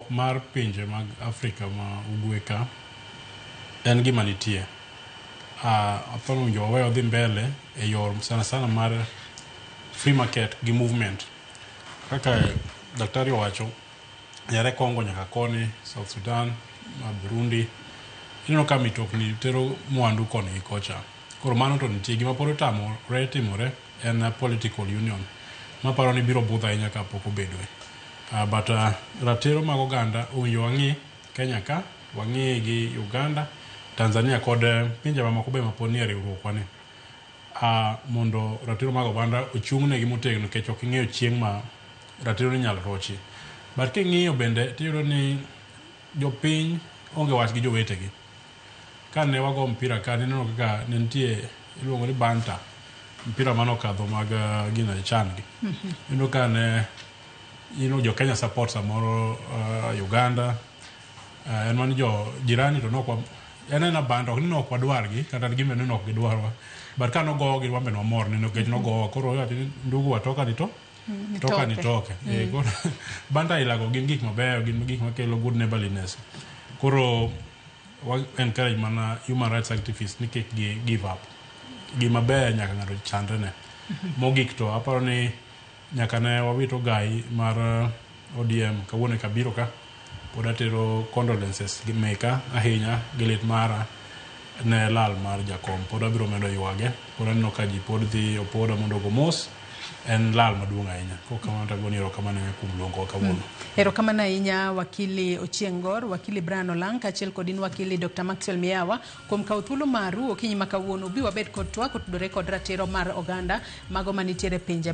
mar pinje mag Afrika ma ugwe ka en gima nitie. Uh, athoro winjo wawe odhi mbele e yor sana sana mar free market gi movement. Kaka daktari owacho, yare Kongo nyaka koni, South Sudan, ma Burundi, ineno ka mitokni tero mwandu koni gi kocha. Koro mano to nitie gima pod otamore timore en political union maparo ni biro budho ahinya ka pok obedoe. But ratiro mag oganda owinjo wang'i Kenya ka, wang'i gi Uganda, Tanzania kod pinje mamoko be mapod nie riwruokwa ni mondo ratiro mag oganda ochung' negi motegno nikech ok ing'eyo chieng' ma ratiro ni inyalo rochi. But king'iyo bende tiyudo ni jopiny onge wach gi jowetegi. Ka ne wago mpira ka, ne neno kaka ne nitie iluongo ni banta, mpira mane okadho mag uh, gina chan gi. Neno ka ne you know, jo Kenya support samoro uh, Uganda uh, en mano jo jirani to nokwa en en abanda ok ni nok wadwargi kata gimbe ni nok gidwarwa but ka nogowogi wan be nwamor neno kech nogowa koro wacho ni ndugu watoka ni to Mm, toka ni toke mm. eh, koro banda ilago gin gik mabeyo gin gik makelo good neighborliness koro wa encourage mana human rights activists ni kik gi give up gima ber nyaka ng'ato chandre ne mm-hmm. mogik to aparo ni nyaka ne wawito gai mar eh, ODM kawuono e kabiro ka pod atero condolences gi meka ahinya gi lit mara ne lal mar jakom pod abiro medo ywage pod aneno ka ji pod dhi opoda mondo ogo mos en lal maduong' ahinya kok kamano to agoni erokamano ahinya kuom luongowa kawuono Erokamano ahinya wakili Ochieng' Gor, wakili Brian Olang' kaachiel kod in wakili Dr. Maxwell Miyawa kuom kawo thuolo maru okinyi ma kawuono ubi wabed kod twak otudore kod ratiro mar oganda mago manitiere e pinje